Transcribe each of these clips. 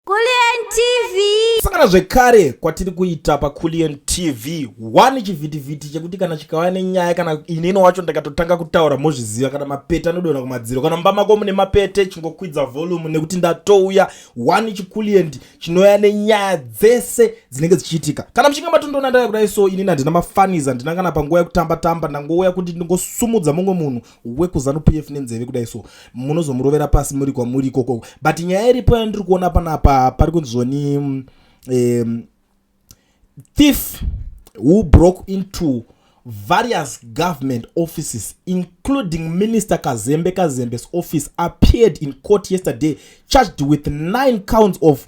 Kulliant TV. Sakana zvekare kwatiri kuita paKulliant TV one chivhitivhiti chekuti kana chikauya nenyaya kana inini wacho ndakatotanga kutaura mozviziva kana mapete anodonha kumadziro kana mumba mako mune mapete chingokwidza volume nekuti ndatouya one chiKulliant chinouya nenyaya dzese dzinenge dzichiitika kana muchinge matondoona ndaya kudai so inini handina mafaniza ndinangana panguva yekutamba tamba ndangouya kuti ndingosumudza mumwe munhu wekuzanu pf nenzeve kudai so munozomurovera pasi muri kwamuri ikoko but nyaya iripo yandiri kuona panapa pari kunzoni um, mm, thief who broke into various government offices including minister kazembe kazembe's office appeared in court yesterday charged with nine counts of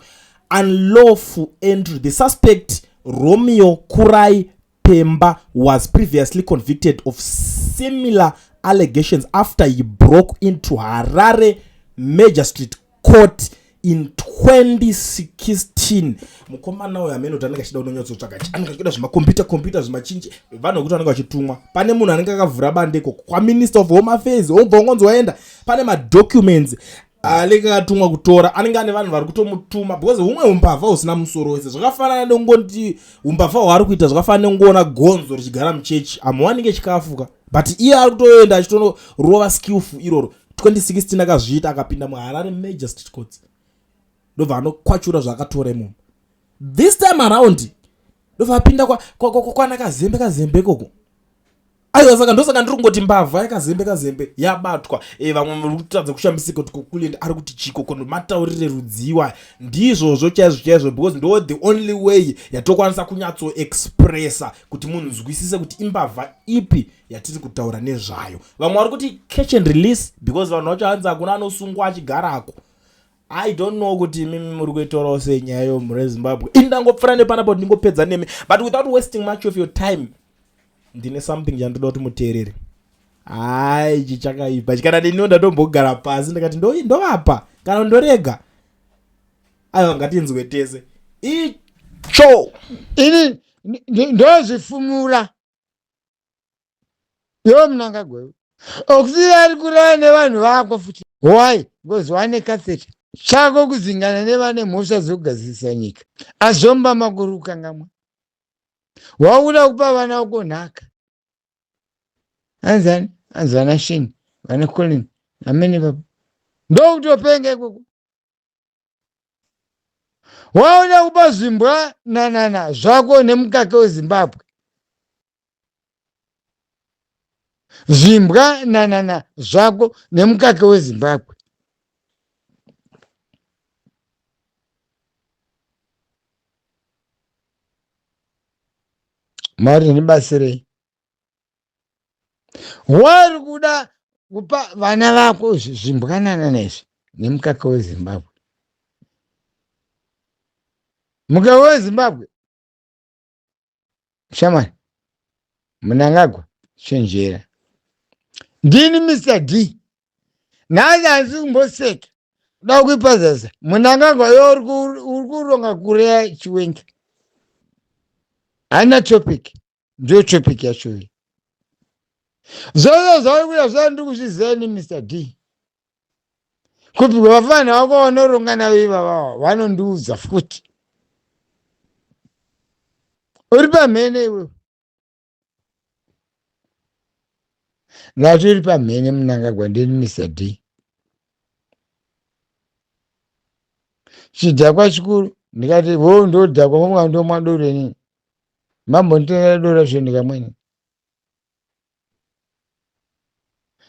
unlawful entry the suspect romeo kurai Pemba was previously convicted of similar allegations after he broke into Harare Magistrate Court in 2016 mukomana uyo amene kuti anenge achida unonyatsotsvaga anenge achida zvimakompyuta kompyuta zvimachinji vanhu vekuti anenge achitumwa pane munhu anenge akavhura bandeko kwaminister of home affairs obva ungonzi waenda pane madocuments anenge ah, akatumwa kutora anenge ane vanhu vari kutomutuma because humwe umbavha husina musoro wese zvakafanana nongoti umbavha hwaari kuita zvakafanana nongoona gonzo richigara muchechi amuwanike chikafuka but iye ari kutoenda achitorova skillful iroro 2016 akazviita akapinda muharare major state courts ndobva anokwachura zvaakatora imomo this time around ndobva apinda kwana kazembe kazembe ikoko aiwa saka ndosaka ndiri kungoti mbavha yakazembe kazembe yabatwa e, vamwe vari kutadza kushambisika kuti kokulenda ari kuti chiko kono mataurire rudziwa ndizvozvo chaizvo chaizvo because ndo the only way yatokwanisa kunyatsoexpressa kuti munhu nzwisise kuti imbavha ipi yatiri kutaura nezvayo vamwe vari kuti catch and release because vanhu vacho hanzi hakuna anosungwa achigarako i don't know kuti imimi muri kuitaurawo senyaya yo mhuri yezimbabwe ini ndangopfura nepanapo ndingopedza nemi but without wasting much of your time ndine something chandoda kuti muteereri hai ichi chakaipa kana ndiniwo ndatombogara pasi ndikati ndovapa kana ndorega aiwa ngatinzwe tese icho ini ndozvifumura yo munanga gwewe okuti ari kurara nevanhu vako futi why because wane catheta chako kuzingana nevane mhosva dzokugadzirisa nyika azomba makuru ukangamwa wakuda kupa vana vako nhaka anzani anzi vana sheni vana colin amene baba ndokutopenga ikoko waona kupa zvimbwa nanana zvako nemukaka wezimbabwe zvimbwa nanana zvako nemukake wezimbabwe mwari ndibatsirei wari kuda kupa vana vako zvimbwanana nezvi nemukaka wezimbabwe mukaka wezimbabwe shamwari munangagwa chenjera ndini mr d nhasi handisi kumboseka kuda kuipa zasa munangagwa yo uri kuronga kureya chiwenga haina topic ndiyo topic yacho iyi zvose zvauri kuya zvandiku zvizeni mr d kuti vafana vako vanoronga navo ivavava vanondiudza futi uri pamhene iwewe ngatori pamhene munangagwa ndini mr d chidhakwa chikuru ndikati wo ndodhakwa mumwa ndomwa doro inini mambonditengera doro zve ndikamweni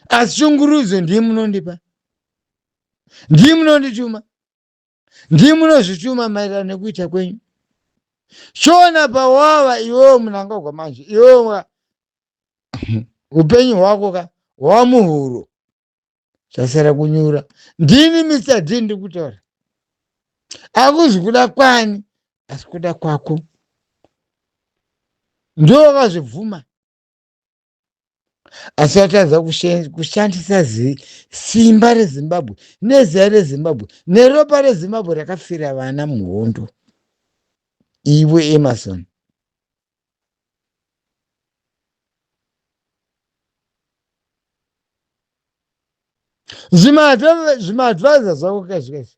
asi shungurudzo ndiye munondipa ndiye munondituma ndiye munozvituma maererano nekuita kwenyu shona pawava iwewo munangagwa manje iwewo ka upenyu hwako ka hwava muhuro zvasara kunyura ndini mr d ndiri kutaura akuzi kuda kwani asi kuda kwako ndiwo wakazvibvuma asi atadza kushe- kushandisa zi- simba rezimbabwe neziya rezimbabwe neropa rezimbabwe rakafira vana muhondo iwe emerson zvimaadvisor zvako kaizvi kaizvi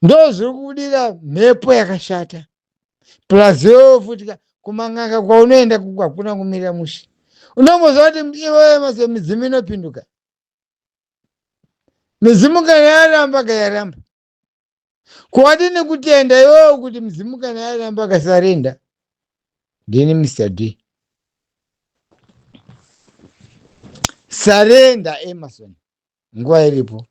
ndozviri kubudira mhepo yakashata plus iwewe futi ka kuman'anga kwaunoenda kuko hakuna kumirira mushe unomboziva kuti iwewe mase midzimu inopinduka midzimu kana yaramba ka yaramba kuwadi nekutenda iwewe kuti midzimu kana yaramba kasarenda ndini mr d sarenda emerson nguva iripo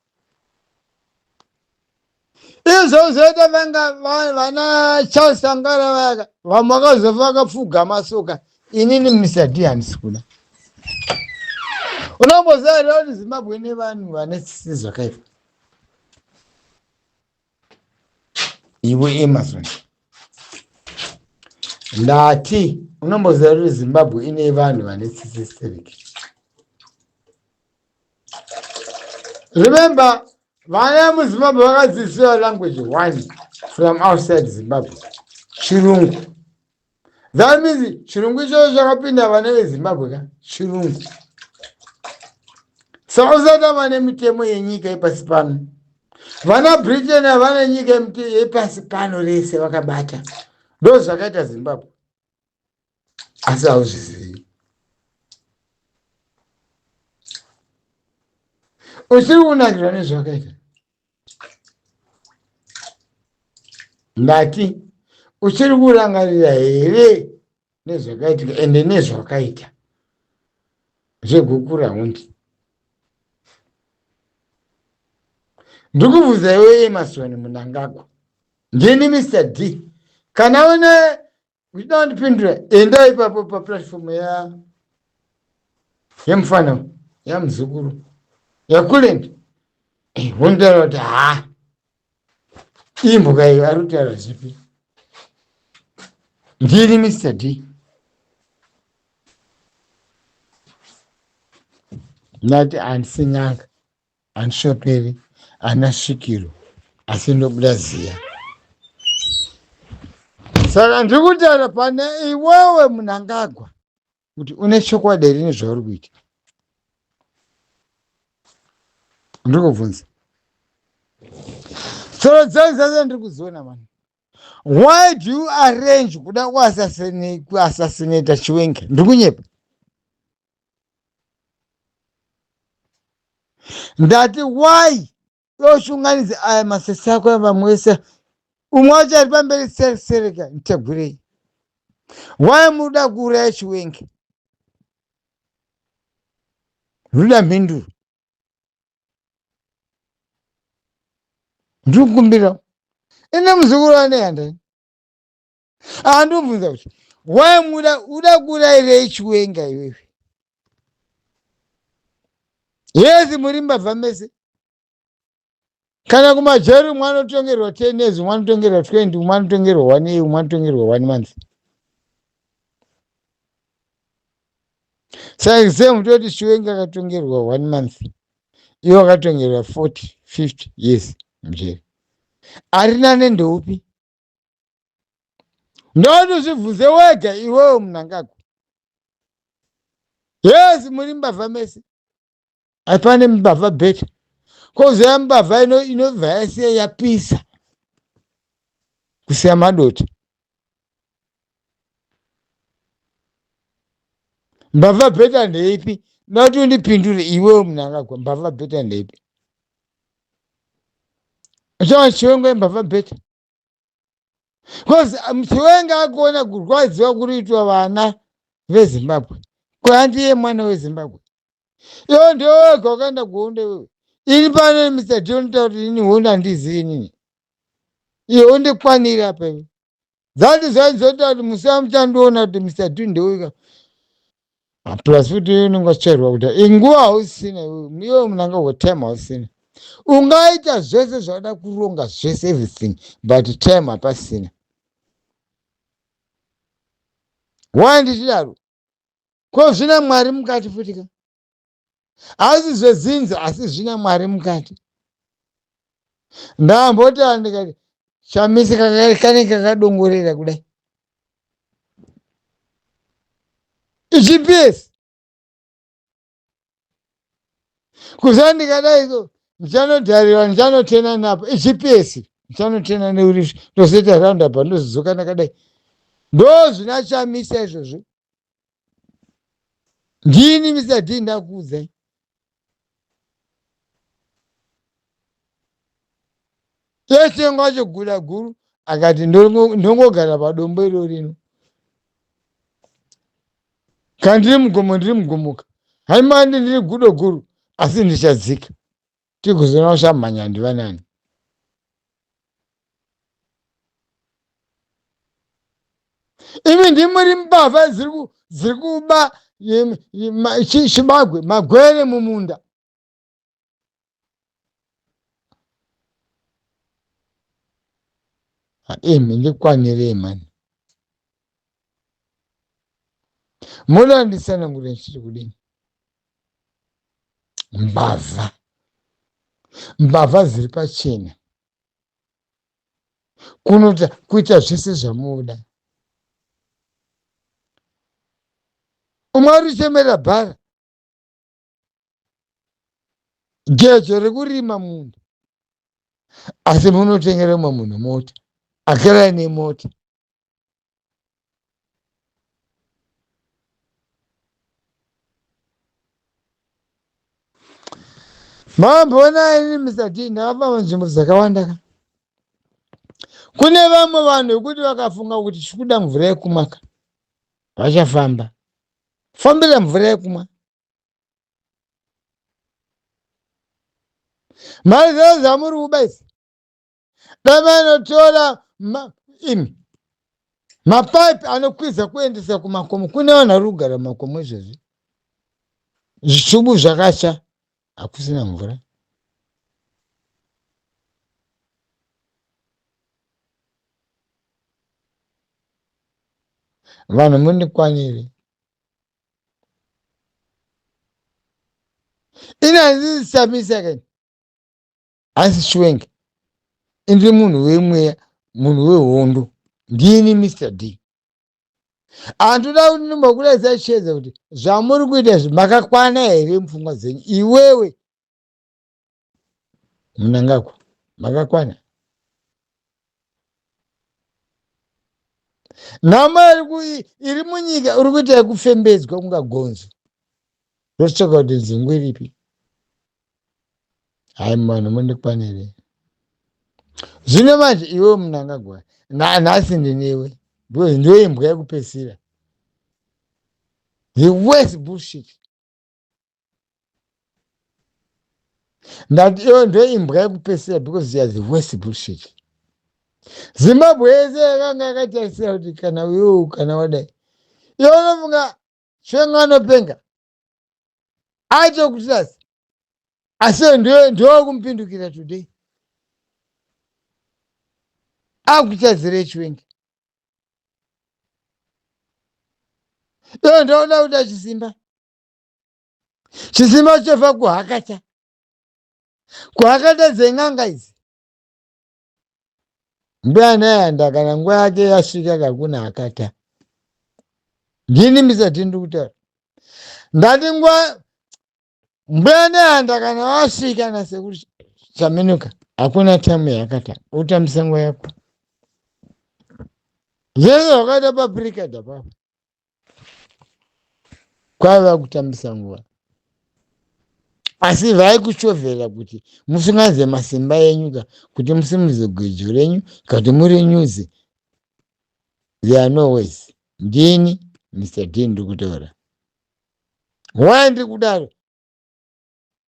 izvo zvoita vanga vana charles sangara vayaka vamwe vakazofa vakapfugama soka inini misadi handisi kuda unomboziva here kuti zimbabwe nevanhu vane tsitsi zvakaipa iwe amazon ndati unomboziva kuti zimbabwe ine vanhu vane tsitsi stereki remember vana muzimbabwe vakadzidziswa language one from outside zimbabwe chirungu That means chirungu ichoyo chakapinda vana vezimbabwe ka chirungu saka usada vane mitemo yenyika yepasi pano vana britain havana nyika yepasi pano rese vakabata ndo zvakaita zimbabwe asi hauzvizivi usiri kunakirwa nezvakaita ndati uchiri kurangarira here nezvakaitika ende nezvakaita zvegukura hundi ndikubvunza iwe emasoni munangagwa ndini mr d kana une uchida kundipindura enda ipapo paplatform ya yemufana yamuzukuru yakulend wontaura kuti haa imbuka iyo ari kutaura zvipi ndiri mr d ndati handisi n'anga Handishoperi ana svikiro asi ndobuda ziya. Saka ndiri kutaura pane iwewe munangagwa kuti une chokwadi here nezvauri kuita. Ndiri kubvunza. Tsoro dzangu dzese ndiri kudziona mani. Why do you arrange kuda kuassassinate Chiwenga? Ndiri kunyepa. ndati why yoshunganidza aya masese ako evamwe vese umwe wacho ari pamberi serisereka nditegurei why muda kuuraya chiwengi ruda mhinduro ndiri kukumbirawo ine muzukuru ane handani andobvunza kuti why muda uda kurairei chiwenga iwewe yesi muri mbavha mese kana kumajeri umwe anotongerwa ten years umwe anotongerwa twenty umwe anotongerwa one year umwe anotongerwa one month saka same toti chiwenga akatongerwa one month iwe akatongerwa forty fifty years mujeri arina nendoupi ndoti uzvibvunze wega iwewo munangagwa yes muri mbavha mese haipane mbavha beta kozoya mbavha inobva yasiya yapisa kusiya madota mbavha bheta ndeipi ndati undipindure iwewo munangagwa mbavha bheta ndeipi chava chiwenga imbavha bheta bcause um, chiwenga akuona kurwadziwa kuri kuitwa vana vezimbabwe kwandiye mwana wezimbabwe iwo ndewega wakaenda kuhondo iwewe ini pano mr john tauri ini hondo handizivi inini iyo undikwanira peve that is why nzoti ati musaa muchandiona kuti mr two ndeuika Ah, plus futi iwe unenge wachairwa kuti inguva hausina iwe iwe munanga wetime hausina ungaita zvese zvauda kuronga zvese everything but time hapasina why ndichidaro ko zvina mwari mukati futika asi zvezinzi asi zvina mwari mukati ndambotara ndikati chamisi kane kakadongorera kudai gps kuza ndikadai so ndichanodhariwa ndichanotena napo gps ndichanotena neuri ndozoita roundabout ndozodzoka ndakadai ndozvina chamisa izvozvo ndini mr d ndakuudzai tesengo acho guda guru akati ndongogara padombo iro rino kana ndiri mugomo ndiri mugomoka haimandi ndiri gudo guru asi ndichadzika tikuzona usamhanya ndiva nani imi ndimuri mbavha dziri kuba chibagwe magwere mumunda imi ndikwanirei mani murandisana kuti ndichiri kudini mbavha mbavha dziri pachena kunoita kuita zvese zvamunoda umwe ari kuchemerera bhara gejo rekurima munhu asi munotengera umwe munhu mota akaraine mota Mamboona ini Mr. T ndakafamba munzvimbo dzakawanda ka. Kune vamwe vanhu vekuti vakafunga kuti chikuda mvura yekumwa ka. Vachafamba. Fambira mvura yekumwa. Mari zvayo zvamuri kuba idzi. davanotora ma, imi mapipe anokwiza kuendesa kumakomo kune vanhu vari kugara mumakomo izvezvi zvitubu zvakatsva hakusina mvura vanhu mundikwanire inanzisamisaka hanzi chiwenga indiri munhu wemweya munhu wehondo ndini mr d handoda kuti ndimbokuratidza chiedza kuti zvamuri kuita izvi makakwana here mupfungwa dzenyu iwewe munangagwa makakwana nhamo iri munyika uri kuita yekufembedzwa kunga gonzo rotsvaka kuti nzungu iripi hayi vanhu mondikwanirei zvino manje iwewe munangagwa nhasi ndinewe ndiwe imbwa yekupesira the worst bullshit ndati iwe ndiwe imbwa yekupesira because you are the worst bullshit zimbabwe yese yakanga yakatarisira kuti kana uyou kana wadai iwe unofunga chenga anopenga aite kutirasi asi ndokumupindukira today akutadzira echiwengi iyo ndoona kuda chisimba chisimba chofa kuhakata kuhakata dzen'anga idzi mbuya nayanda kana nguva yake yasvika kakuna akata ndini misati ndiri kutaura ndati nguva mbuya nayanda kana wasvika nasekuru chaminuka hakuna tamu yakata utambisa nguva yako zvese zvakaita paprikada papa kwaiva kutambisa nguva asi vai kuchovhera kuti musunganidze masimba enyu ka kuti musimudze gwejo renyu ka kuti muri nyuzi they are no ways ndini mr d ndiri kutaura why ndiri kudaro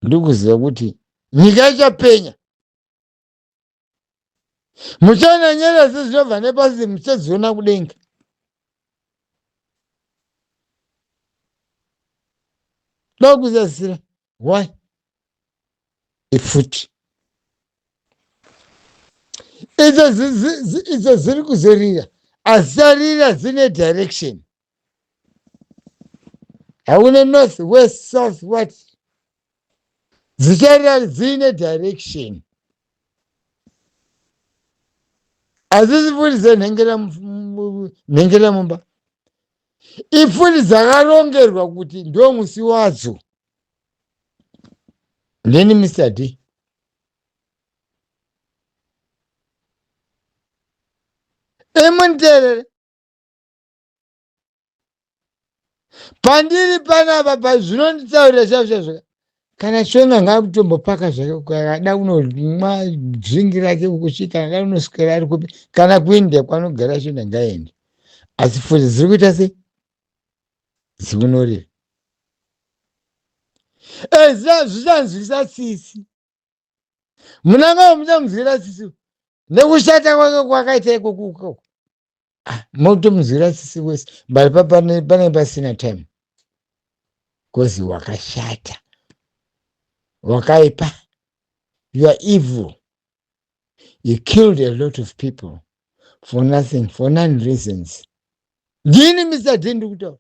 ndiri kuziva kuti nyika ichapenya muchaona nyeredzi dzinobva nepasi muchadziona kudenga ndokuzadzira why ifuti idzo dziri kuzorira asi dzarira dzine direction hauna north west south what dzicharira dziine direction hadzisi pfuti dzenhengera mumba ipfuti dzakarongerwa kuti ndo musi wadzo ndini mr d emuniterere pandiri panapa pazvinonditaurira chaizvo kana shona ngakutombopaka zvake kada kunomwa dringi rake kuchi kana da kunoswera ari kupi kana kuindia kwanogara shona ngaende asi futi dziri kuita sei dzikunorira ezvichanzwisa tsitsi munangava muchamuziva sisi nekushata kwake kwakaita ikokuko ah, motomuziva sisi wese but panenge pasina time bcause wakashata wakaipa you are evil you killed a lot of people for nothing for none reasons ndini mr d ndikutaura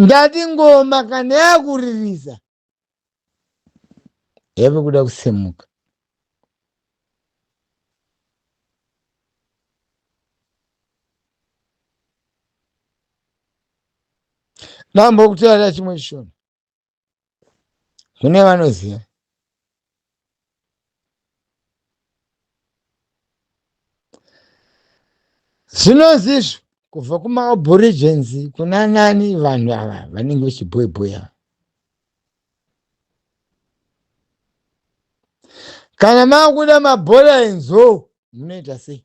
ndati ngoma kana yakuririsa yave kuda kusemuka mambo kutaura chimwe chishona mune vanoziva zvinonzi izvo kubva kumaoborigins kuna nani vanhu ava vanenge vechibhoibhoya kana makuda mabhora enzou munoita sei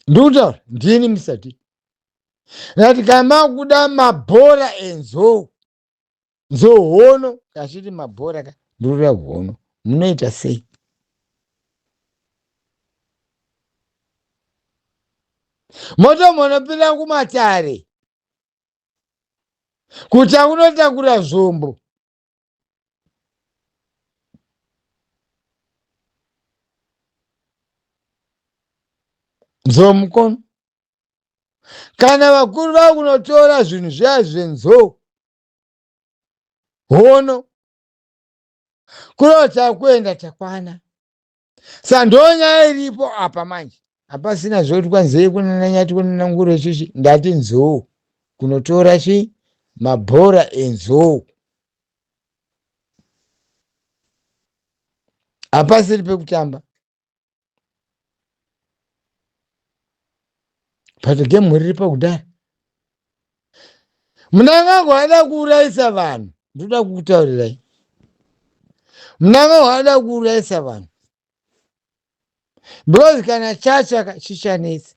ndikutaura ndini musati Ndati kana makuda mabhora enzou nzohono kachiti mabhora ka ndorora hono munoita sei moto munopinda kumatare kutya kunotakura zvombo nzou mukono kana vakuru vakunotora zvinhu zviya zvenzou hono kurota kuenda takwana sa ndonyaya iripo apa manje hapasina zvoti kwanzei kunana nyati kunana nguro chichi ndati nzou kunotora chi mabhora enzou hapasiri pekutamba but game riripo kudhara munangagwa ada kuurayisa vanhu ndoda kukutaurirai munangagwa ada kuurayisa vanhu because kana chatsvaka chichanetsi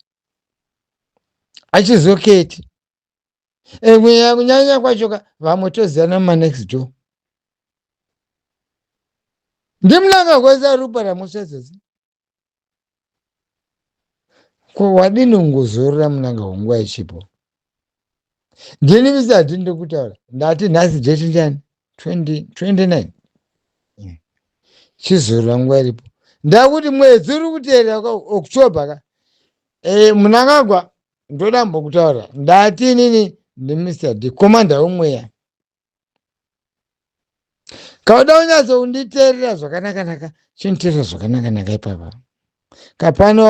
achizoketi emweya kunyanya kwacho ka vamwe toziyana mumanext door ndimunangagwa zarupa ramusvedzodzi ko wadini ungozorora munanga hwenguva ichipo ndini misi hatini ndokutaura ndati nhasi date ndiani 29 chizorora nguva iripo ndakuti mwedzi uri kuteerera october ka e, munangagwa ndoda mbokutaura ndati inini ndimr d komanda wemweya kauda kunyatso kunditeerera zvakanakanaka chiniteerera zvakanakanaka ipapa kapano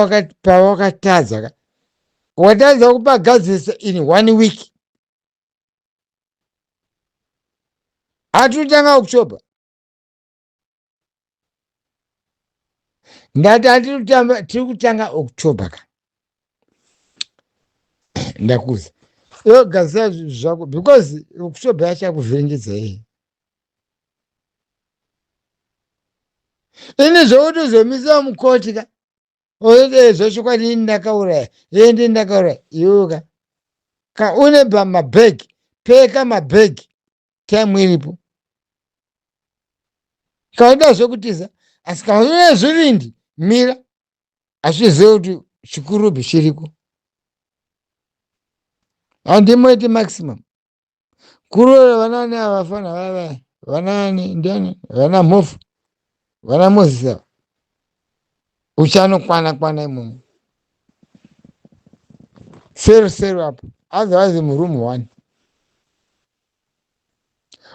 pawakatadza ka watadza kupagadzirisa in one week atitanga kuchoba ndati anditamba tiri kutanga october ka ndakuza iwe gadzira zvinhu zvako because october yacho yakuvhiringidza iyi ini zvokuti uzomisa mukoti ka oye zvasvukwa rini ndakauraya iye ndi ndakauraya iweka ka une mabhegi peka mabhegi time iripo kauda zvekutiza asi kaune zvivindi mira hazvizive kuti chikurubi chiriko handimoiti maximum kuroya vanani avafana vavaya vanani ndiani vana mhofu vana mozisi ava uchanokwana kwana imomo seru seru apo otherwise muroom one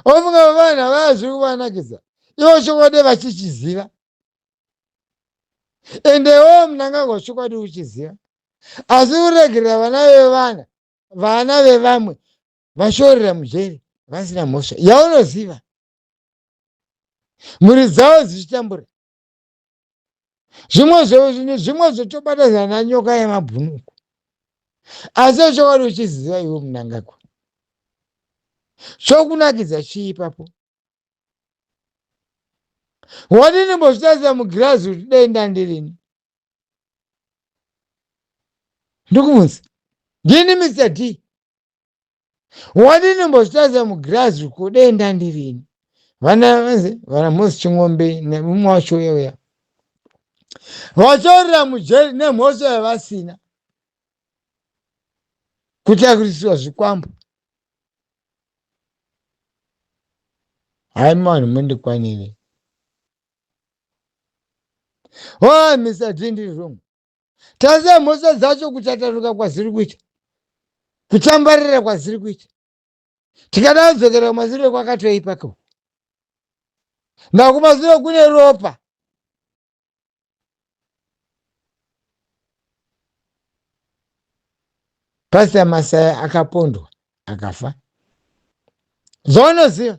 ofunga vavanhu avaya zviri kuvanakidza ivo chokwadi vachichiziva ende iwewo munangagwa chokwadi uchiziva asi kuregerera vana vevana vana vevamwe vashorera mujeri vasina mhosva yaunoziva mhuri dzavo dzichitambura zvimwe zvimwe zvotobatazana nanyoka yemabhunuku asi chokwadi uchiziva iwe munangagwa chokunakidza chii ipapo wadini mbozvitarisa mugirazi kuti denda ndirini ndokumunzi ndini mr d wadini mbozvitaza mugirazi uko dei ndandirini vana vanzi vana mhosi chingombe nemumwe wacho uya uya vachaurira mujeri nemhosva yavasina kutakurisirwa zvikwambo hayi mavanhu mundikwanire oh mr d ndiri wrong tarisa mhosva dzacho kuchataruka kwaziri kuita kutambarira kwaziri kuita tikada kudzokera kumasure kwakatoipa ko makumasure kune ropa pastor masaya akapondwa akafa zvaunoziva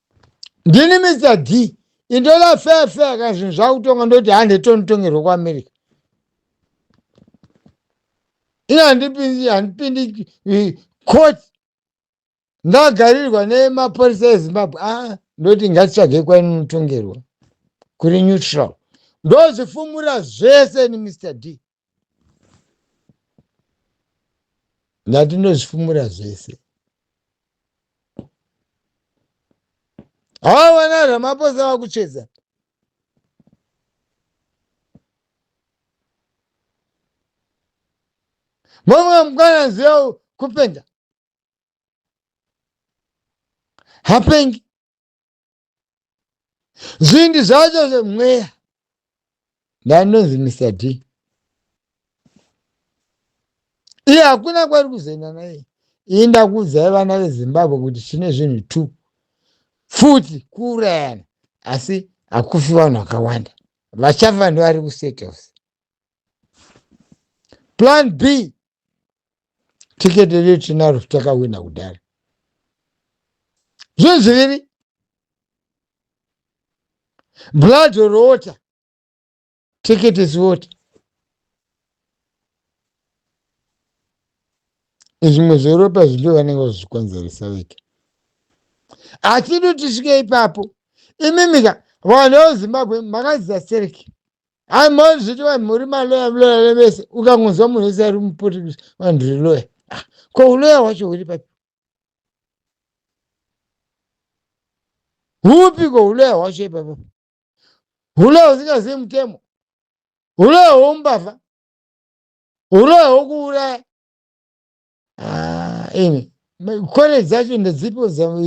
ndini mr d indoda fair fair kana zvinhu zvakutonga ndoti hande tonitongerwa kuamerica ini handipindi handipindi eh, court ndagarirwa nemapurisa ezimbabwe ah ndoti ngatitsvagei kwainotongerwa kuri neutral ndozvifumura zvese ni mr d ngatinozvifumura zvese hawa vana ramaposa vakucheza mumwe mukana ziva kupenga hapengi zvingi zvacho zvemweya ndandonzi mr d iye hakuna kwari kuzoenda naye iyi ndakuudzai vana vezimbabwe kuti tine zvinhu two futi kuurayana asi hakufi vanhu vakawanda vachafa ndovari kusettles plan b tikete riri tinaro takawina kudhara zvinhu zviviri blood or water ticket is water zvimwe zveropa zvindo vanenge vazvikonzeresa veke hatidi tisvike ipapo imimika vanhu vezimbabwe makaziza sereki hai mozviti vanhu muri maloya mloya levese ukangonzwa munhu wese ari mupoti kuti vanhu ri loya ah, ko uloya hwacho huri papi hupi ko uloya hwacho ipapo uloya usingazivi mutemo uloya hwoumbavha uloya hwokuuraya anyway college dzacho ndedzipo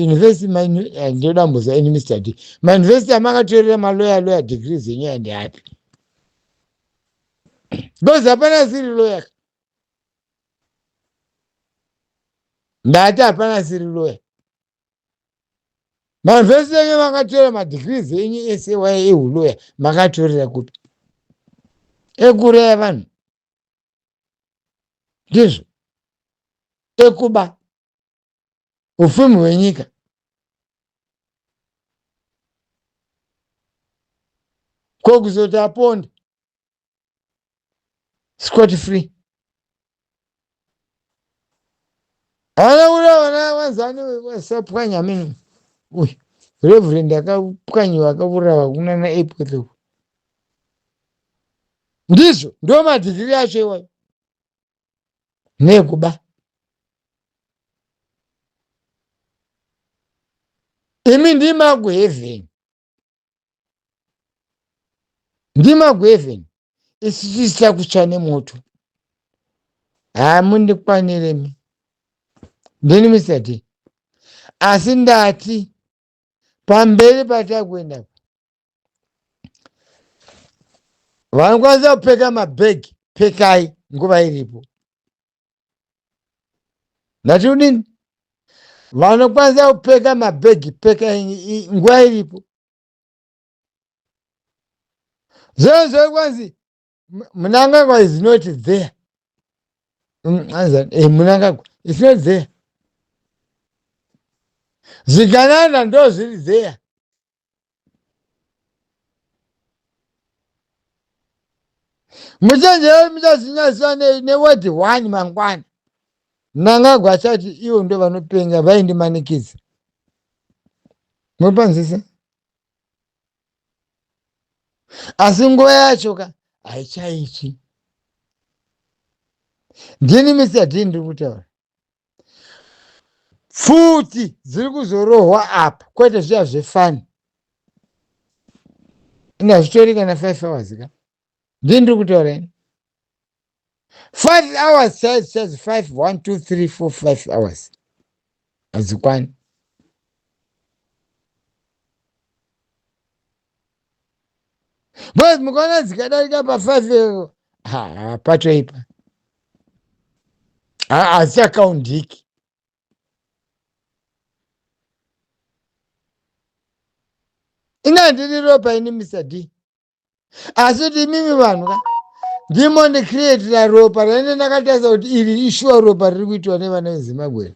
university eh, ndoda mbuza ini mr d mauniversity amakatorera maloya loya degree dzenyu yandi api because hapana siri loya ndati hapana siri loya mauniversity enyu makatorera madegree dzenyu ese waye ehuloya makatorera kupi ekuraya vanhu ndizvo ekuba ufumu hwenyika ko kuzoti aponde scot free haana kuda vana vanzani vasapwanya amene uyu reverend akapwanyiwa akavurawa kunana airport uku ndizvo ndiwo madzivire acho iwayo nekuba imi ndimaguheaven ndimaguheaven isisisa kutsva nemoto hamundikwaniremi ndini mr d asi ndati pamberi patakuenda apa vanokwanisa kupfeka mabhegi pfekai nguva iripo ndati udini vanokwanisa kupfeka mabhegi pfekai nguva iripo zvinhu zvaikwanzi Mnangagwa is not there. Mm, eh, Mnangagwa is not there. Zvigananda ndo zviri there. Muchenjere muchazinyaswa neword one mangwana. Mnangagwa achati ivo ndo vanopenga vaindimanikidza. Mopanzisa? asi nguva yacho ka haichaitsvi ndini misa dii ndiri kutaura pfuti dziri kuzorohwa apa kwete zviya zvefani ina zvitori kana five hours ka ndini ndiri kutaura ini five hours chaizi chaizi five one two three four five hours hadzikwani but mukaona dzikadarika pafive eh, ha patoipa hadzichakaundiki inga ndiri ropa ini mr d asi kuti imimi vanhu ka ndimo ndikrietira ropa raine ndakatarisa kuti iri ishuwa ropa riri kuitiwa nevana vezimbabwe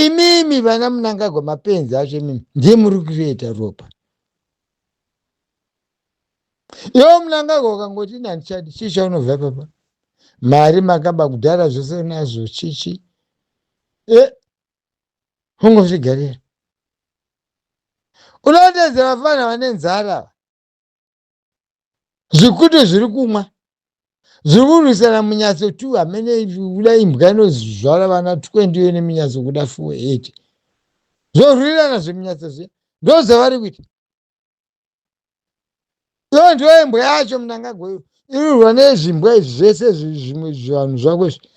imimi vana munangagwa mapenzi acho imimi ndiye muri kukrieta ropa iwo munangagwa ukangoti ini handichadi chii chaunobva papa mari makaba kudhara zvose nazvo chichi e ungozvigarira unootedza vafana vane nzara ava zvikutu zviri kumwa zviri kurwisana munyatso tu hamene uda imbwa inozvara vana twendi yo neminyatso kuda fuwe ete zvorwirirana zvemunyatso zviya ndozvavari kuita iyo ndiyo imbwa yacho munangagwa iyo irurwa nezvimbwa izvi zvese zvimwe zvivanhu zvako izvi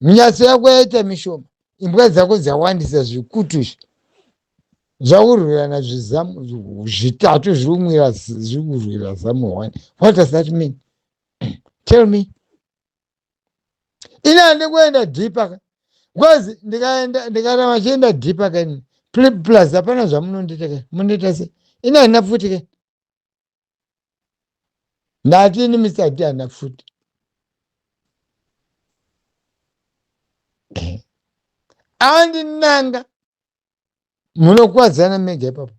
minyatso yako yaita mishoma imbwa dzako dzawandisa zvikutu izvi zvakurwirana zvizamu zvitatu zviri kumwira zviri kurwira zamu one what does that mean tell me ini hande kuenda deeper ka because ndikaenda ndikana vachienda deeper ka ini plus hapana zvamunondiita ka mundiita se ini handina pfuti ka ndati ini misi ati handina pfuti andinanga munokuwadzana mega ipapo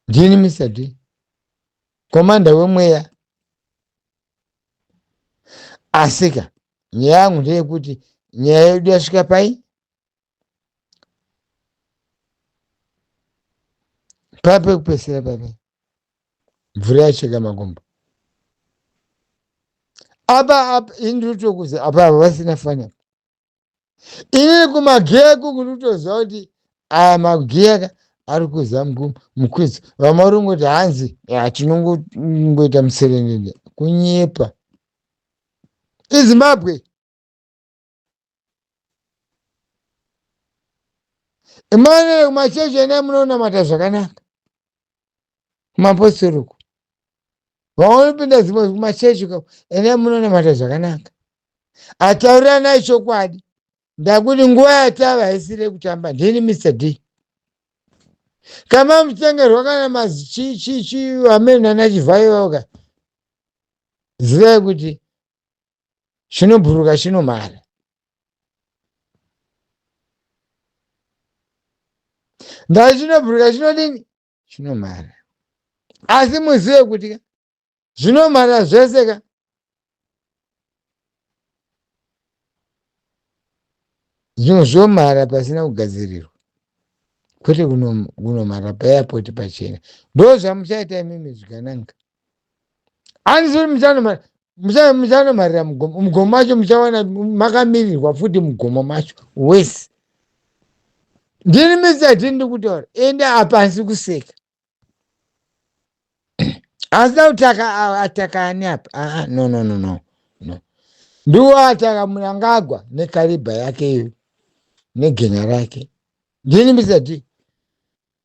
ndini mr d komanda wemweya asika nyaya yangu ndeyekuti nyaya yedu yasvika pai papekupesera pape mvura yacheka makumbo apa apa ini ndiri kutokuza apa ava vasina fani apa ii kumagiya iko kunotoziva kuti aya magiya ka ari kuza mukwidzo vamwe vari kungoti hanzi tinongoita muserendende kunyepa izimbabwe imane kumachechi enai munonamata zvakanaka kumapostori uko vaonopinda zimwe kumachechi uko ene munonamata zvakanaka ataurirana chokwadi ndakuti nguva yatava haisiri yekutamba ndini mr d kama mutengerwa kana mazichichichi vamene nana chivhayo vaka zivai kuti chinobhuruka chinomhara ndai chinobhuruka chinodini chinomhara asi muzive kuti ka zvinomhara zvese ka zvimwe zvomhara pasina kugadzirirwa kwete kunomhara paapoti pachena ndo zvamuchaita imimi zvikananga hanzi muchanomarira mugomo mugomo macho muchawana makamirirwa futi mugomo macho wese ndini misati ndikutaura ende apasi kuseka asi tautaka ataka ani apa aa no no no no no ndiwo ataka munangagwa nekaribha yake iyo negenya rake ndini misati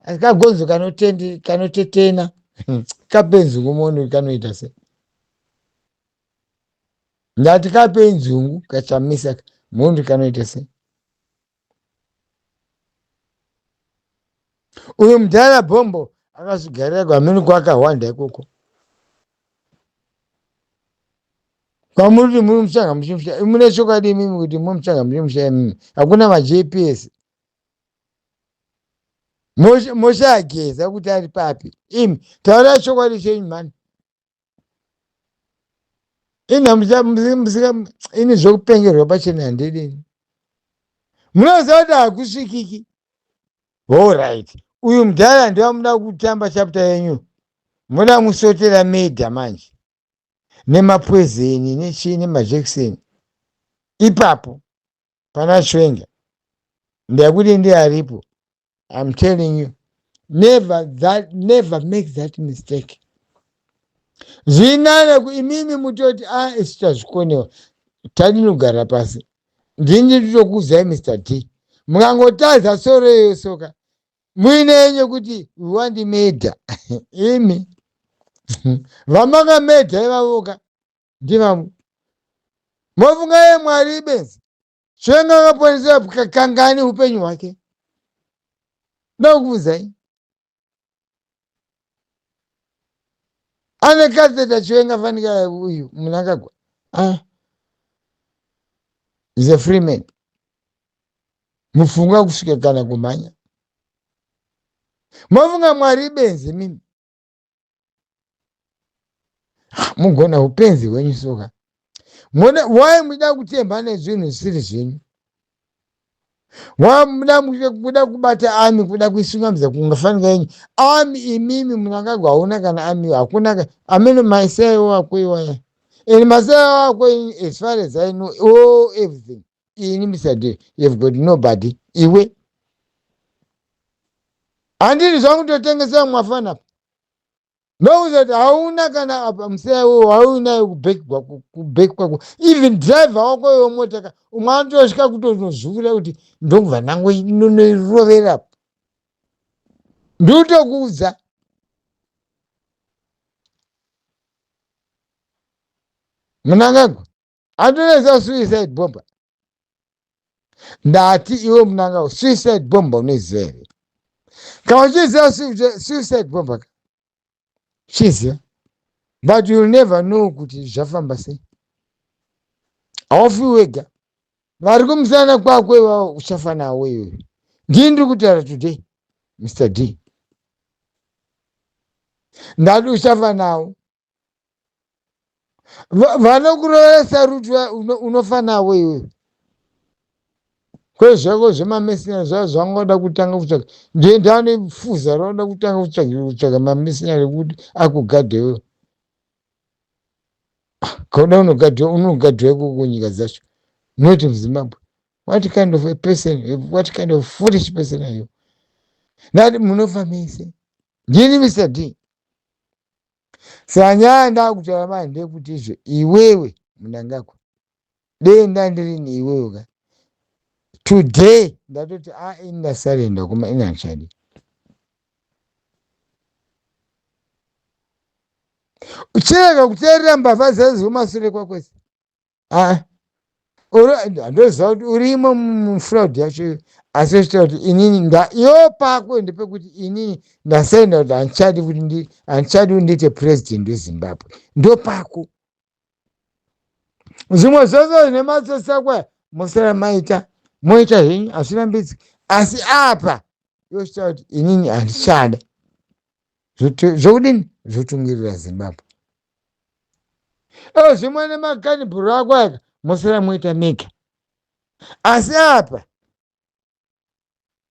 asi kagonzo kanotendi kanotetena hmm. kapenzi kumoni kanoita se ndati kapenzi ungu kachamisa mhondi kanoita se uyu mudhara bhombo akazvigarira kwamini kwakahwanda ikoko kwamuri kuti muri muchanga muchimusha mune chokwadi imimi kuti muri muchanga muchimusha imimi hakuna majps Moshe, Moshe ageza kuti ari papi imi taura chokwadi chenyu mhani inhamuzika ini zvekupengerwa pachena handidini munoziva kuti hakusvikiki horit uyu mudhara ndivamuda kutamba chapta yenyu muda musotera media manje nemapwezeni nechii nemajekiseni ipapo pana chwenga ndakuti ndiye aripo I'm telling you never that never make that mistake zvinana imimi mutoti a ah, isu tazvikonewa tadinogara pasi ndini nditokuudzai mr d mukangotadza soro iyoyo soka muine yenye kuti wandimedha imi vamakambedha ivavoka ndivamwe mofunga ye mwari benzi chiwenga akaponesera kangani upenyu hwake ndokubvunzai ane katheta chiwenga fanika uyu munangagwa ah. is a free man mufunga kusvika kana kumhanya mofunga mwari benzi mimi mugona upenzi hwenyu soka mona why muda kutemba nezvinhu zvisiri zvenyu wamuda kuda kubata ami kuda kuisungamidza kungafanika yenyu ami imimi munangagwa hauna kana ami hakuna ameno maisaiwo akoiwaya and maisaiwo ako as far as i know all everything ini mr d you've got nobody iwe handiri zvangu totengesera mwafana apa ndokuza kuti hauna kana apa musaya wo haunayo kubheki kwako kubheki kwako even driver wako iwe mota ka umwe anotosvika kutonozvuvira kuti ndokubva nango nonoirovera apa ndikutokuudza munangagwa andonesa suicide bomber ndati iwe munangao suicide bomber unoiziva here kana uchiziva suicide bomber ka chiziva but youll never know kuti zvafamba sei haufi wega vari kumusana kwako ivavo uchafa nawo iwe ndii ndiri kutaura today mr d ndati uchafa nawo Va- vanokuroora saruti va- uno- unofa navo iwewe kwezvako zvemamesinari zvava zvanga wada kutanga kutsvaga ndiye ndane fuza raoda kutanga kutsvaga kutsvaga mamesinari ekuti akugadhe iwewe Ah, kauda unogadhiwa unogadhiwa ikoko kunyika dzacho not muzimbabwe what kind of a person what kind of foolish person are you nati munofa mese ndini mr d Saka nyaya ndakutaura manje ndekuti izvo iwewe Mnangagwa dei ndandiri neiwewe ka today ndatoti a ini ndasarenda kuma ini handichadi uchirega kuteerera mbavha dzezivo masure kwakwese ah, handoziva kuti urimo mufraud yacho iyo asi zviita kuti inini ndaiyo pako ndepekuti inini ndasaina kuti handichadi kuti handichadi kuti ndiite president wezimbabwe ndopako zvimwe zvose zvine matsotsi akwaya mosara maita moita henyu hazvirambidziki asi apa yochita kuti inini handichada zvokudini zvotungirira zimbabwe o zvimwe nemakanibhuru ako aka mosara moita mega asi apa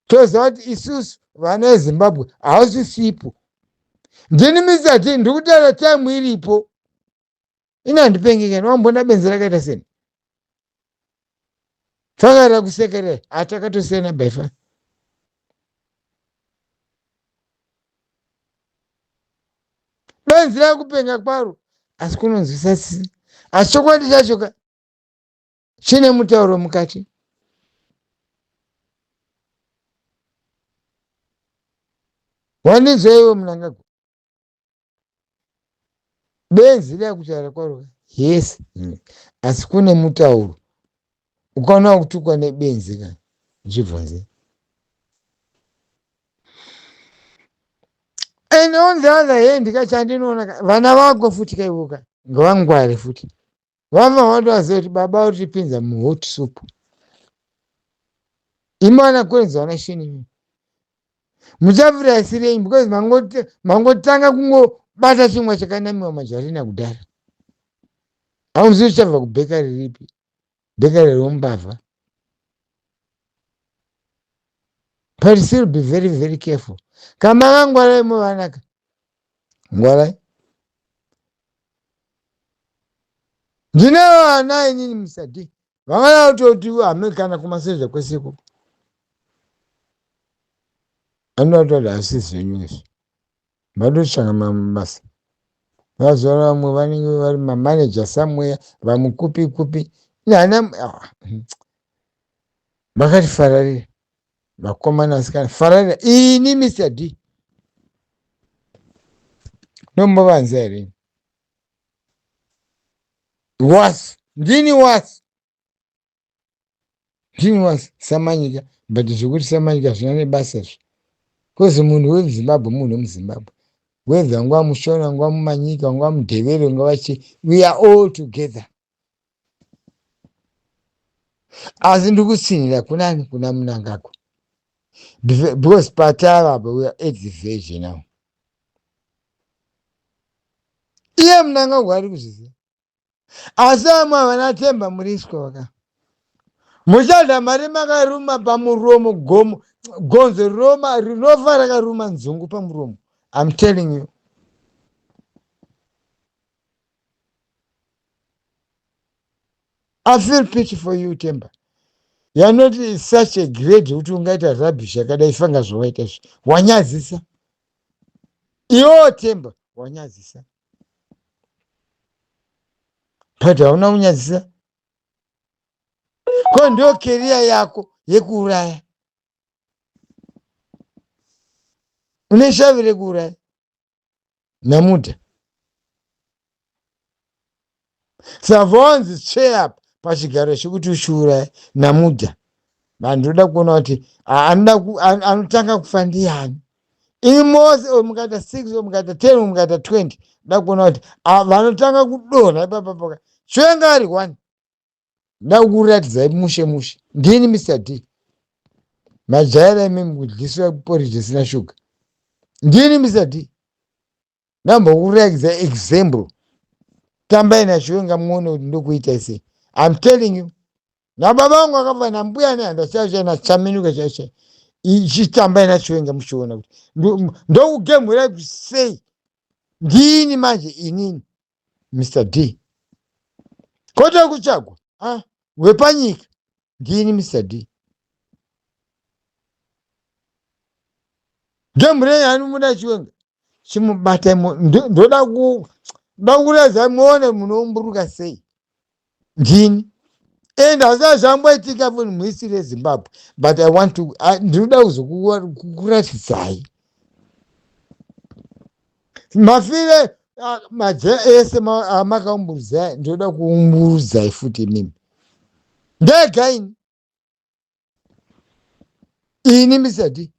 toziva kuti isusu vana vezimbabwe hausisipo ndini mizati ndiri kutaura taimu iripo ini handipengekani wambona benzi rakaita seni faka rakusekerera hatakatosiyana by far benzi rakupenga kwaro asi kunonzwisa sisi asi chokwadi chacho ka chine mutauro mukati wandinzwa iwe munangagwa benzi dai kutaura kwaro yes mm. asi kune mutauro ukaona kutukwa nebenzi ka zvibvunze and on the other hand ka chandinoona vana vako futi kaivoka ngavangware futi vamwe vanotovaziva kuti baba vari kutipinza muhot soup imana kwenzi vana sheni imi muchavira isirei because mangotanga kungobata chimwa chakanamiwa mazvarina kudhara haunzivi uchabva kubheka riripi bheka rerombavha but still be very very careful kama vangwaraimo vanaka ngwarai ndine vana inini musadi vangada kutoti hame kana kumasezva kwese ikoko anotoda asi zvenyu izvi vatoshanga mabasa mazuva ano vamwe vanenge vari mamaneja samweya vamwe kupi kupi nana ah, hmm. vakatifararia vakomana vasikana fararira ini mr d nombovanza here was ndini was ndini was samanyika but zvekuti samanyika zvina nebasa zvi bcause munhu wemuzimbabwe munhu wemuzimbabwe whether nguva mushona nguva mumanyika nguva mudhevere nguva chi we are all together asi ndiri kutsinhira kunani kuna munangagwa because patava apa we are at the verge now iye munangagwa ari kuzviziva asi vamwe havana temba muriswa vaka muchada mari makaruma pamuromo gomo gonzo rinova rinofa rakaruma nzungu pamuromo i'm telling you I feel pity for you Temba. You are not such a grade kuti ungaita rubbish yakadai fanga zvawaita izvi. Wanyadzisa. Iwo Temba wanyadzisa. But hauna kunyadzisa. Ko ndio career yako yekuuraya. Une shavi rekuuraya. nemuda savonzi cheya pachigaro chekuti ushuura namuda vanhu ndoda kuona kuti anotanga kufa ndiyani ini mose oyo mukaita six oyo mukaita ten oyo mukaita twenty ndoda kuona kuti vanotanga kudonha ipapapaka chwenga ari one ndakuratidzai mushe mushe ndini mr d majaira imimi kudliswa poriji isina shuga ndini mr d ndambokurakidza example tambai nachiwenga muone kuti ndokuitai sei im telling you nababa vangu akafa nambuya nehanda chaisha nachaminuka chaisha chitambai nachiwenga muchiona kuti ndokugemhurai kuti sei ndini manje inini mr d kota kutsvagwa a ah, wepanyika ndini mr d ndemurei anomuda chiwenga chimubata ndoda kuda kuratidza muone munoumburuka sei ndini and hazaa zvamboitika munhu muisiri yezimbabwe but i want to ndinoda kuzokuratidzai mafire maje ese amakaumburudzai ndinoda kuumburudzai futi imimi ndega ini ini misati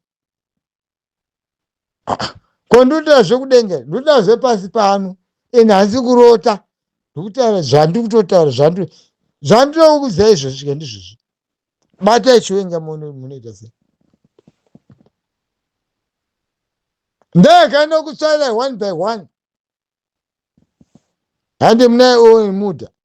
ko ndoda zvekudenga ndoda zvepasi pano and hanzi kurota ndikutaura zvandi kutotaura zvandi zvandinokuza izvozvi ka ndizvozvi bata ichiwenga munoita sei ndakana kutsvaira one by one hande munaye omuda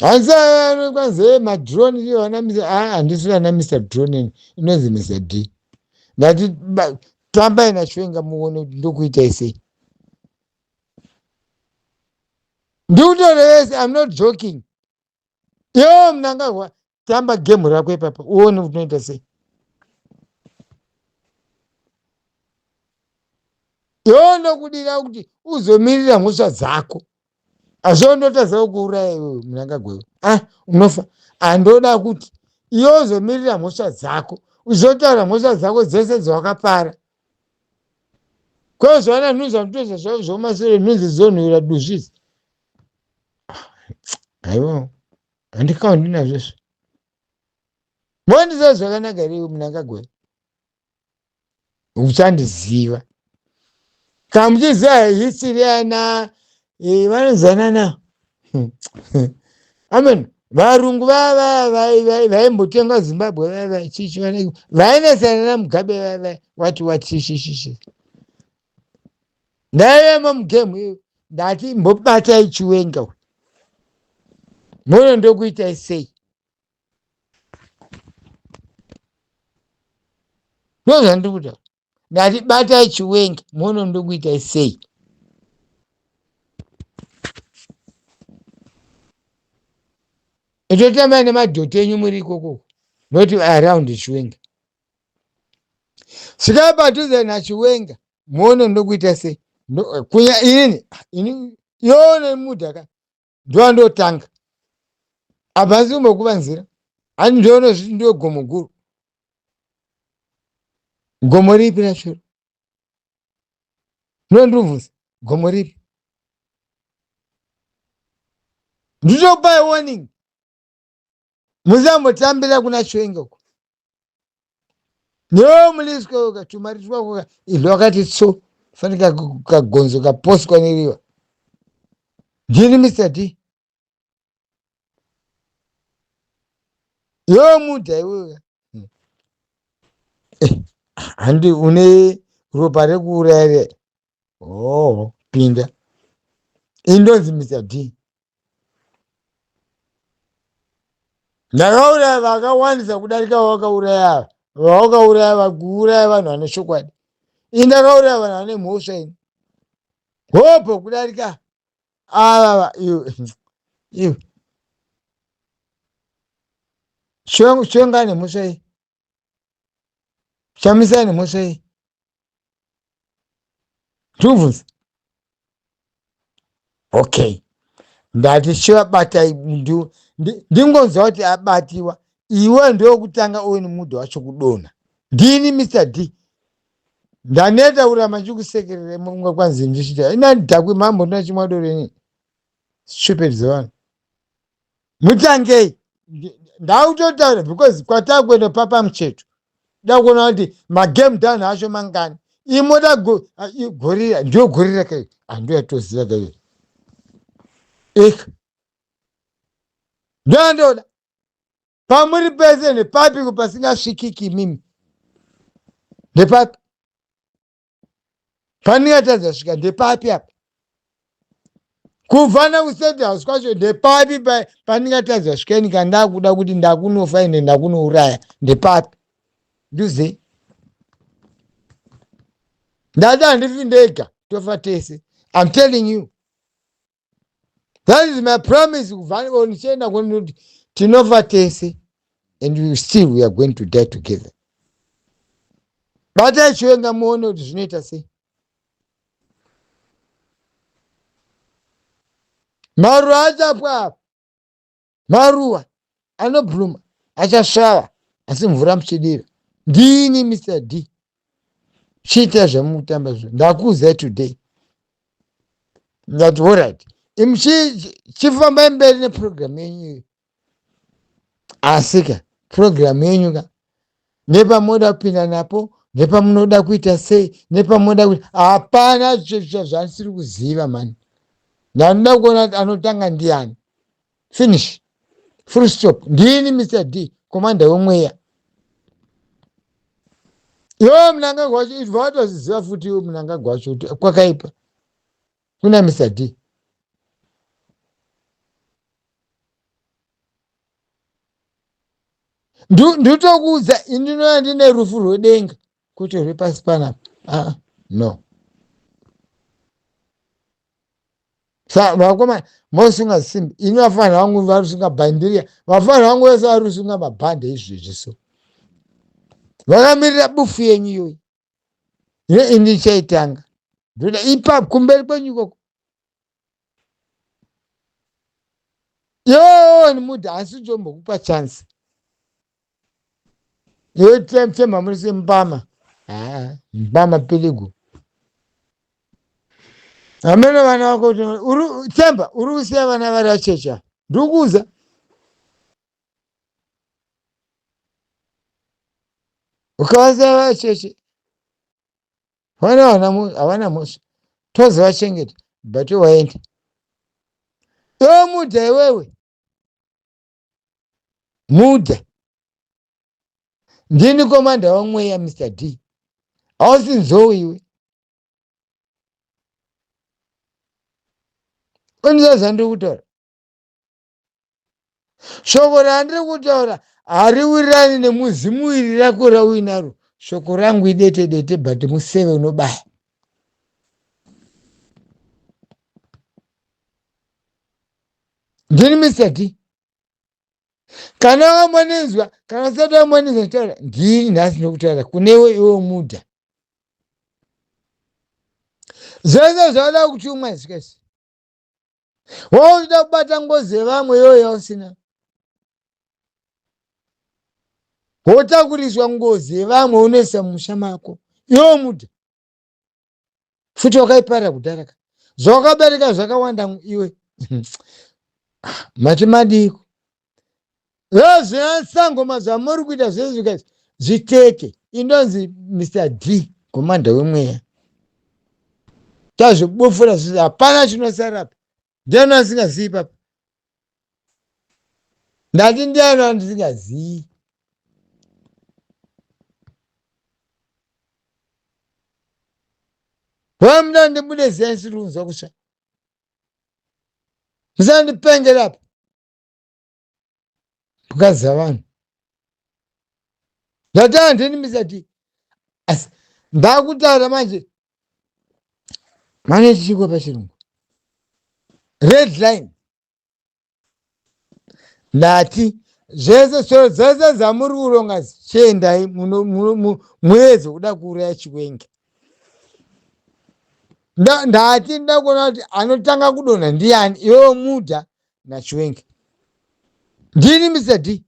hanzi kwanzi hey, madrone iyo vanamisa aa ah, handisi vanamisa drone ini inonzi misa d ndati tambai nachiwenga muone kuti ndokuitai sei ndikutorevese im not joking yoo mnangagwa tamba game rako ipapa uone kuti unoita sei yoo ndokudira kuti uzomirira mhosva dzako hazvoo ndotadza kukuuraya iwewe mnangagwa iwe ah unofa handoda kuti iwe uzomirira mhosva dzako uchizotaura mhosva dzako dzese dzawakapara kwezvaona nhunzi vanotozva zvavo zvomasure nhunzi dzonhuira duzvizi aiwa handikaundi nazvo izvi mondiziva zvakanaka here iwe munangagwe uchandiziva kana muchiziva history yana eh, vanozanana amen varungu vava vaimbotenga zimbabwe vava chichi vainetsanana mugabe vava wati wati shishishishi ndaivemo mugemu iyo ndati mbobatai chiwenga uyu mono ndokuitai sei ndozvandiri kutaura ndati batai chiwenga mono ndokuitai sei itotambai nemadhoti enyu muri ikokoko not around chiwenga svikai padhuze nachiwenga muone ndokuita sei Ndo- kunya ini ini yone mudhaka ndova ndotanga apa asi kumbokuvanzira ani ndoona zviti ndiwe gomo guru gomo ripi rachero ndondirubvunza gomo ripi nditopai warning musambotambira kuna chiwenga uko no muliswa uka tumari twakoka izvo wakati tso fani kagonzo kaposwa neriva ndini mr d yo muda iweka hmm. eh, handi une ropa rekuuraya oho pinda indonzi mr d ndakauraya vakawandisa kudarika vawakauraya vawakauraya vakuuraya vanhu vane chokwadi ini ndakauraya vanhu vane mhosva ini hope kudarika avava iwe iwe chivangu chivangane mhosva iyi chamisai nemhosva iyi ndikubvunza okay ndati chivabata ndingonzwa kuti abatiwa iwe ndokutanga uwe nemuda wacho kudonha ndini mr d ndaneta kuramba ndichikusekerera munga kwanzi ndichita inani dhakwe mambo ndinachimwadoreni stupid zevanhu mutangei ndautotaura because kwatakuenda papa mucheto dakuona kuti magame down acho mangani imoda gorira ndiyo gorira kai handiyo yatoziva kai ika ndoyandoda pamuri pese nepapiko pasingasvikiki imimi nepapi Pane yatadza svika ndepapi apa? Kuvana kustate house kwacho ndepapi pandingatadza svika ini kana ndakuda kuti ndakunofa ende ndakunouraya ndepapi? Nduze. Ndada handifi ndega tofa tese. I'm telling you. that is my promise kuvaniwo ndichienda kwenoti tinofa tese and still we are going to die together batai chiwenga muone kuti zvinoita sei maruwa achapwa apa Maruva anobluma achasvava asi mvura muchidira. Ndini Mr D. Chiita zvamutamba zvo. Ndakuudzai today. Ndati horaiti. Imi chifambai mberi neprogramu yenyu iyo. Asika program yenyu ka nepamoda kupinda napo nepamunoda kuita sei nepamoda kuita hapana zvichezvicha zvanisiri kuziva mani ndanoda kuona kuti anotanga ndiani finish full stop ndini mr d komanda wemweya yo mnangagwa wacho ibva watozviziva futi iwe mnangagwa wacho kuti kwakaipa Kuna Mister D. Nditokuudza indinova ndine rufu rwedenga kuti rwepasi panapa. Ah, no. Sa vakoma mosunga simbi ini vafanira vangu varusunga bhandiria vafanira vangu vese varusunga mabhande izvezvi so vakamirira bufu yenyu iyoyi zve ini chaitanga ndoda ipapo kumberi kwenyu ikoko yoni muda hasi jombokupa chance yotemfema muri sembama ah, mbama piligu amene vana vako themba uri kusiya vana vari achecha ndikuuza ukavanzira vacheche vana havana mhosva tozi vachengeta but waenda iwe mudha iwewe mudha ndini komanda wamweya mr d hausi nzou iwe ondiza zvandiri kutaura shoko randiri kutaura hariwirirani nemuzimu iri rako rauinaro shoko rangu idete dete but museve unobaya ndini mr d kana wamwanenzwa kana usati wamwanenzwa kutaura ndini nhasi nokutaura kunewe iwe muda zvese zvauda kutumwa zvikasi wauchida kubata ngozi yevamwe iyoyo yausina wotakuriswa ngozi yevamwe unoisa mumusha mako iwo muda futi wakaiparira kudhara ka zvawakabereka zvakawanda iwe mati madiiko Haa zveasangoma zvamuri kuita zvezvika zvitete indonzi Mr D komanda wemweya tazvibofora zvizvi hapana chinosarapa ndiani asingazivi papa ndati ndiani andisingazivi vamuda ndibude ziyani siri kunzwa kusva musandipengerapo mukadzi dzavanhu ndatanga ndini misati asi ndakutaura manje mane chichikwa pachirungu red line ndati zvese shoro dzese dzamuri kuronga chiendai muedze kuda kuuraya chikwenge ndati ndakuona kuti anotanga kudonha ndiani iwewo muda nachiwengi ndini mr d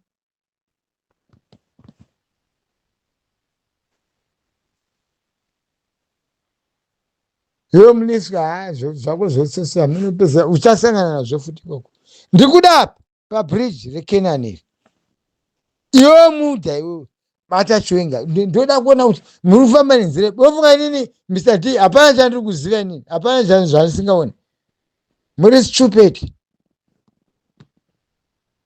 iwe muniswa ha zvako zvese hamunopeza uchasangana nazvo futi ikoko ndikuda apa pabridge rekenani iri iwe muda iwewe bata chiwenga ndoda kuona kuti muri kufamba nenzira yepi ofunga inini mr d hapana chandiri kuziva inini hapana chan zvandisingaoni muri stupid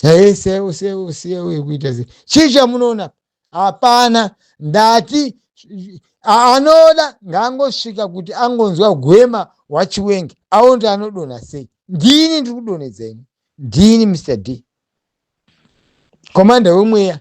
hee sewo sewo sewo yekuita se chii chamunoona hapana ndati anoda ngaangosvika kuti angonzwa gwema wachiwenga aonde anodonha sei ndini ndiri kudonhedza ini ndini mr d Commander wemweya.